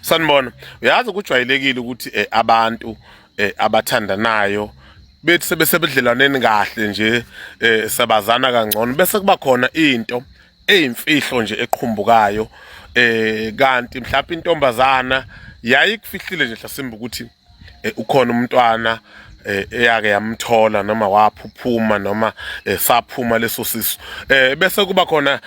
sanibona uyazi kujwayelekile ukuthi eh, abantu eh, abathandanayo bethi sebesebudlelwaneni kahle nje eh, sabazana kangcono bese kuba khona into eyimfihlo nje eqhumbukayo eh kanti mhlawumbe intombazana yayikufihlile nje hlasimba ukuthi eh, ukhona umntwana eh, eyake yamthola noma waphuphuma noma eh, saphuma leso sisu eh bese kuba khona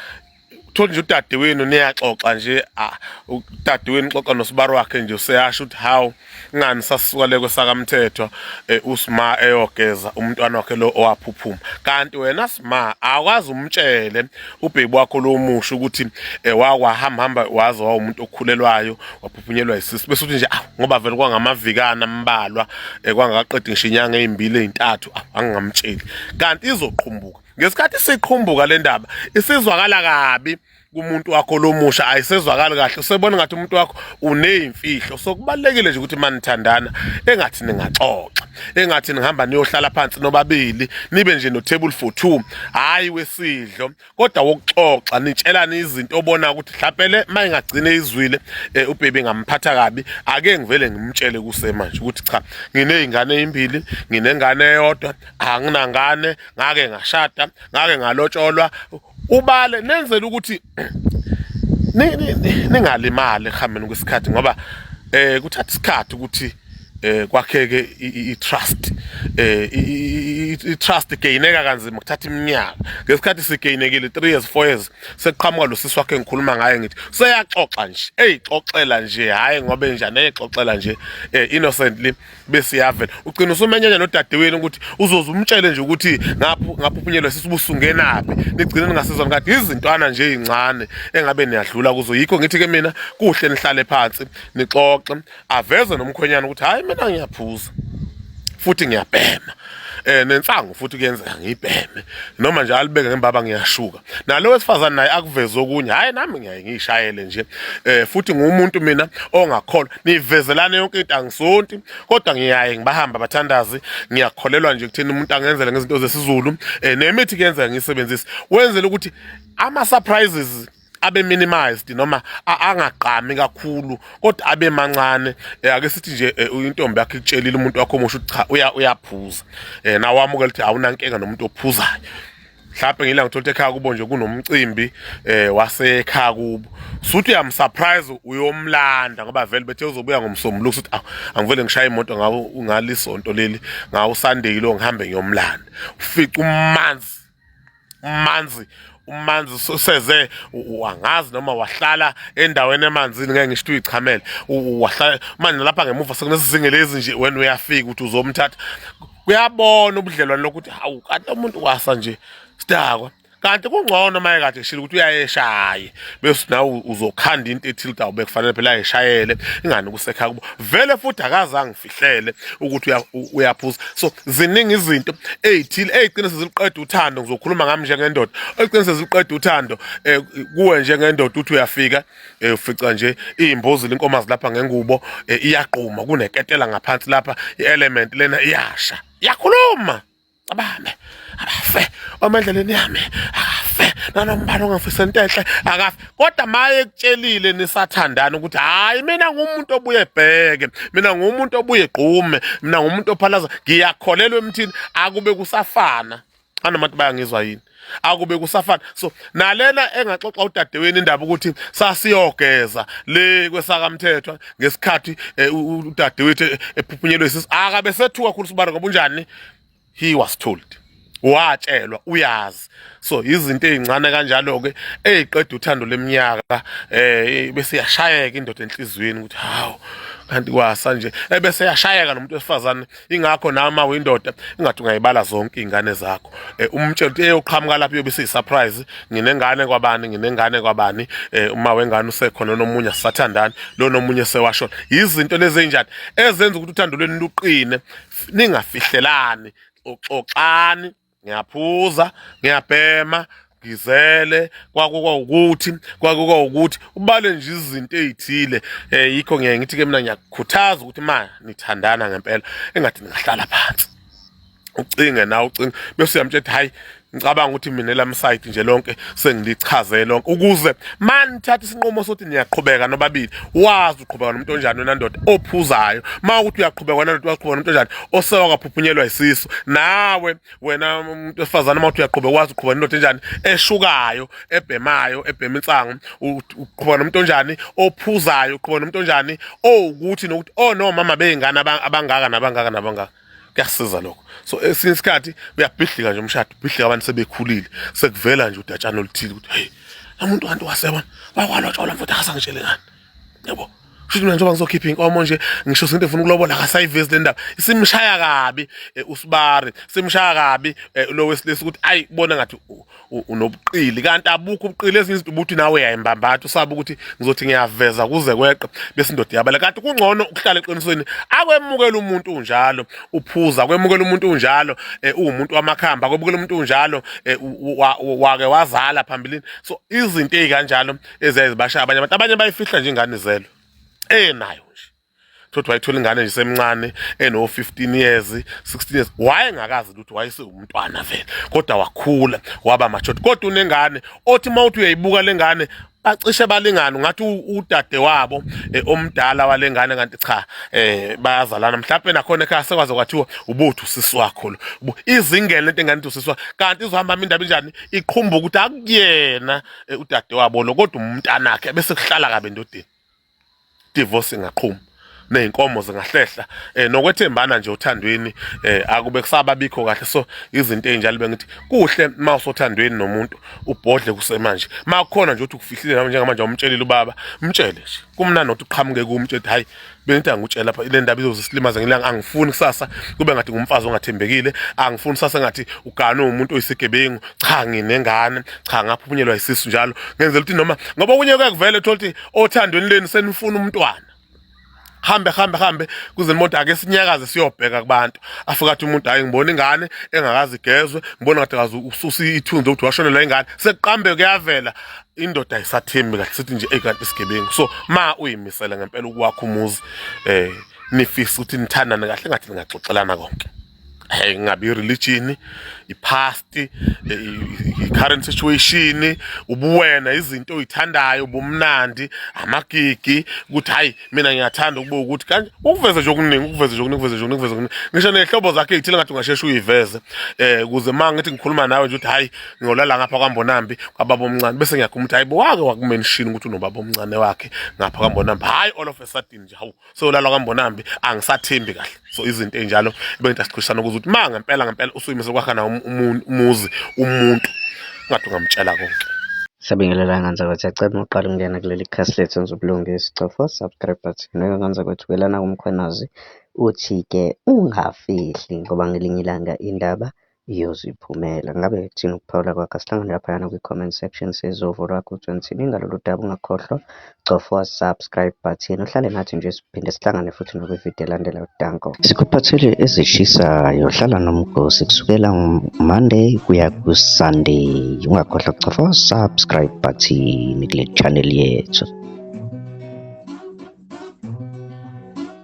thola nje udadewenu niyaxoxa nje ah, udadewenu xoxa nosibari wakhe nje useyasho ukuthi hawu ngani sasuka le kwesakamthethwa eh, usima eyogeza umntwana wakhe lo owaphuphuma kanti wena sima akwazi umtshele ubhebi wakho lo musho ukuthi eh, wakwahamba hamba waze wawumuntu okhulelwayo waphuphunyelwa isisi bese uthi nje ah, ngoba vele kwangamavikana ambalwa eh, kwangaqedi ngisho inyanga ezimbili ezintathu ah, angingamtsheli kanti izoqhumbuka ngesikhathi siqhumbuka le ndaba isizwakala kabi kumuntu wakho lomusha ayisezwakali kahle usebona ngathi umuntu wakho uneyimfihlo so kubalekile nje ukuthi manithandana engathi ningaxoxa engathi nihamba niyohlala phansi nobabili nibe nje no table for two hayi wesidlo kodwa wokuxoxa nitshelane izinto obona ukuthi mhlawumbe mayingagcine izwile eh, ubhebi ngamphatha kabi ake ngivele ngimtshele kusemanje ukuthi cha nginezingane ezimbili nginengane eyodwa anginangane ngake ngashada ngake ngalotsholwa ubale nenzela ukuthi ningalimali ehambeni kwesikhathi ngoba eh kuthatha isikhathi ukuthi eh kwakheke i-trust eh i-trust gaineka kanzima kuthatha iminyaka ngesikhathi sigainekile 3 years 4 years sekuqhamuka lo sisi wakhe ngikhuluma ngaye ngithi seyaxoxa nje eyixoxela nje hayi ngobe njani eyixoxela nje eh, innocently bese yavela ugcina usumenyanya nodadewenu ukuthi uzoze umtshele nje ukuthi ngapho ngapho uphunyelwe sisibusungenaphi nigcine ningasizwani kade izintwana nje ezincane engabe niyadlula kuzo yikho ngithi ke mina kuhle nihlale phansi nixoxe aveze nomkhwenyana ukuthi hayi mina ngiyaphuza futhi ngiyabhema eh nensangu futhi kuyenzeka ngibheme noma nje alibeke ngembaba ngiyashuka nalo wesifazane naye akuveze okunye hayi nami ngiyaye ngiyishayele nje eh futhi ngumuntu mina ongakholwa nivezelane yonke into angisonti kodwa ngiyaye ngibahamba bathandazi ngiyakholelwa nje kuthina umuntu angenzele ngezinto zesizulu eh nemithi kuyenzeka ngisebenzise wenzele ukuthi ama surprises abe minimized noma angagqami kakhulu kodwa abe mancane eh, ake sithi nje eh, intombi yakhe itshelile umuntu wakho omusha ukuthi cha uyaphuza eh nawamukela ukuthi awunankinga nomuntu ophuzayo mhlawumbe ngila ngithola ekhaya kubo nje kunomcimbi eh wasekhaya kubo suthi uyamsurprise uyomlanda ngoba vele bethe uzobuya ngomsombuluko suthi awu angivele ngishaye imoto ngawo ngalisonto leli ngawo Sunday lo ngihambe ngiyomlanda ufica umanzi umanzi umanzi useze wangazi noma wahlala endaweni emanzini ngeke ngisho uyichamele wahlala manje lapha ngemuva sekunesizinge lezi nje wena uyafika ukuthi uzomthatha kuyabona ubudlelwane lokuthi hawu kanti umuntu wasa nje sidakwa kanti kungcono uma ekade eshile ukuthi uyayeshaye bese nawe uzokhanda into ethile ukuthi awube kufanele phela ayeshayele ingani kusekha kubo vele futhi akazange ngifihlele ukuthi uyaphuza so ziningi izinto ey'thile ey'qinise ziliqeda uthando ngizokhuluma ngami njengendoda ey'qinise ziliqeda uthando um kuwe njengendoda ukuthi uyafika eh ufica nje izimbuzi lenkomazi lapha ngengubo eh, iyaqhuma kuneketela ngaphansi lapha i-element lena iyasha yakhuluma abame afe omendleleni yami afe nanombani ongafisa into enhle akafe kodwa maye ekutshelile nisathandana ukuthi hayi mina ngumuntu obuye ebheke mina ngumuntu obuye egqume mina ngumuntu ophalaza ngiyakholelwa emthini akube kusafana anoma ukuthi bayangizwa yini akube kusafana so nalena engaxoxa udadeweni indaba ukuthi sasiyogeza le kwesakamthethwa ngesikhathi eh, udadewethu eh, ephuphunyelwe isisi akabe sethuka khulu sibara ngoba unjani he was told watshelwa uyazi so izinto ezincane kanjalo ke eziqeda uthando leminyaka eh bese yashayeka indoda enhlizweni ukuthi hawo kanti kwasa nje ebese yashayeka nomuntu wesifazane ingakho nawe uma uyindoda ingathi ungayibala zonke iy'ngane zakho um umtshela ukuthi eyoqhamuka lapho iyobe isiyi-surprise nginengane kwabani nginengane kwabani um uma wengane usekhona nomunye asisathandani lo nomunye sewashona yizinto lezi ey'njani ezenza ukuthi uthando lweni luqine ningafihlelani xoxani ngiyaphuza ngiyabhema ngizele kwakuka ukuthi kwakuka ukuthi ubale nje izinto ezithile eh yikho ngiye ngithi ke mina ngiyakukhuthaza ukuthi ma nithandana ngempela engathi ningahlala phansi ucinge na ucinge bese uyamtshela hayi ngicabanga ukuthi mina lam side nje lonke sengilichaze lonke ukuze manithatha isinqumo sokuthi niyaqhubeka nobabili wazi uqhubeka nomuntu onjani wena ndoda ophuzayo uma ukuthi uyaqhubeka wena ndoda waqhubeka nomuntu onjani osewa kaphuphunyelwa isisu nawe wena umuntu wesifazane uma ukuthi uyaqhubeka wazi uqhubeka nendoda enjani eshukayo ebhemayo ebhema insangu uqhubeka nomuntu onjani ophuzayo uqhubeka nomuntu onjani owukuthi nokuthi oh no mama beyingane abangaka nabangaka nabangaka kuyasiza lokho so esinye isikhathi uyabhidlika nje umshado ubhidlika abantu sebekhulile sekuvela nje udatshana oluthile ukuthi hey umuntu kanti wasebona wakwalotshola mfuthu akasangitshele ngani yebo futhi mina njengoba ngizokhipha inkomo nje ngisho sento efuna ukulobola akasayivezi le ndaba isimshaya kabi eh, usibari simshaya kabi eh, lo wesilisa ukuthi ayi bona ngathi unobuqili kanti abukho ubuqili ezinye izinto ubuthi nawe yayimbambatha usaba ukuthi ngizothi ngiyaveza kuze kweqe bese indoda yabala kanti kungcono ukuhlala eqinisweni akwemukela umuntu unjalo uphuza akwemukela umuntu unjalo eh, uwumuntu wamakhamba akwemukela umuntu unjalo eh, wake wazala phambilini so izinto ezikanjalo eziyazibashaya abanye abantu abanye bayifihla nje ingane zelwe enayo nje thothi wayithola ingane nje semncane eno 15 years 16 years wayengakazi ukuthi wayesewumntwana vele kodwa wakhula waba machothi kodwa unengane othi mawuthi uyayibuka lengane bacishe balingana ngathi udade wabo eh, omdala walengane kanti cha eh bayazalana mhlawumbe nakhona ekhaya sekwaze kwathiwa ubuthu sisi wakho lo izingele lento engani usiswa kanti izohamba indaba injani iqhumbuka ukuthi akuyena eh, udade wabo lo kodwa umntanakhe bese kuhlala kabe ndodeni divorce ingaqhuma nezinkomo zingahlehla eh nokwethembana nje othandweni eh akube kusaba bikho kahle so izinto ezinjalo bengithi kuhle uma usothandweni nomuntu ubhodle kusemanje makukhona nje uthi ukufihlile nami njengamanje umtshelile ubaba mtshele nje kumnandi ukuthi uqhamuke kumtshele hayi bengithi angikutshela lapha ile ndaba izozisilimaza ngilanga angifuni kusasa kube ngathi ngumfazi ongathembekile angifuni kusasa ngathi uganwe umuntu oyisigebengu cha nginengane cha ngaphunyelwa isisu njalo ngenzela ukuthi noma ngoba kunye kuyakuvela uthola ukuthi othandweni leni senifuna umntwana hambe hambe hambe kuze umuntu ake sinyakaze siyobheka kubantu afika athi umuntu hayi ngibona ingane engakazi igezwe ngibona ngathi kazi ususa ithunzi ukuthi washonelwa ingane sekuqambe kuyavela indoda ayisathembi kahle sithi nje ekanti isigebengu so ma uyimisele ngempela ukwakho umuzi eh nifisa ukuthi nithandane kahle ngathi ningaxoxelana konke Eh, ngabe i-religion i-past eh, i-current situation ubuwena izinto oyithandayo ubumnandi amagigi ukuthi hayi mina ngiyathanda ukuba ukuthi kanje ukuveze nje okuningi ukuveze nje okuningi ukuveze nje okuningi ukuveze okuningi ngisho nehlobo zakhe ezithile ngathi ungasheshe uyiveze eh kuze uma ngithi ngikhuluma nawe nje ukuthi hayi ngiyolala ngapha kwambonambi kwababa omncane bese ngiyakhuluma ukuthi hayi bo wake wakumenshini ukuthi unobaba omncane wakhe ngapha kwambonambi hayi all of a sudden nje hawu so lalo kambonambi angisathembi kahle so izinto enjalo bengida siqhishana ukuthi ukuthi ma ngempela ngempela usuyimise kwakha na um-, um-, umuzi umuntu ngathi ungamtshela konke Siyabingelela ngandza kwethu yacela uma uqala ukungena kuleli khasi lethu enza ubulungisi cofa subscribe button neke ngandza kwethu kelana kumkhwenazi uthi-ke ungafihli ngoba ngelinye ilanga indaba iyoziphumela. Ngabe kuthini ukuphawula kwakho? Asihlangane laphayana kwi-comment section size uvo lwakho ukuthi wenzini ngalolu daba. Ungakhohlwa cofa subscribe button uhlale nathi nje siphinde sihlangane futhi nokwividiyo elandela udanko. Sikuphathele ezishisayo hlala nomgosi kusukela Monday kuya ku-Sunday. Ungakhohlwa kucofa subscribe button kule channel yethu.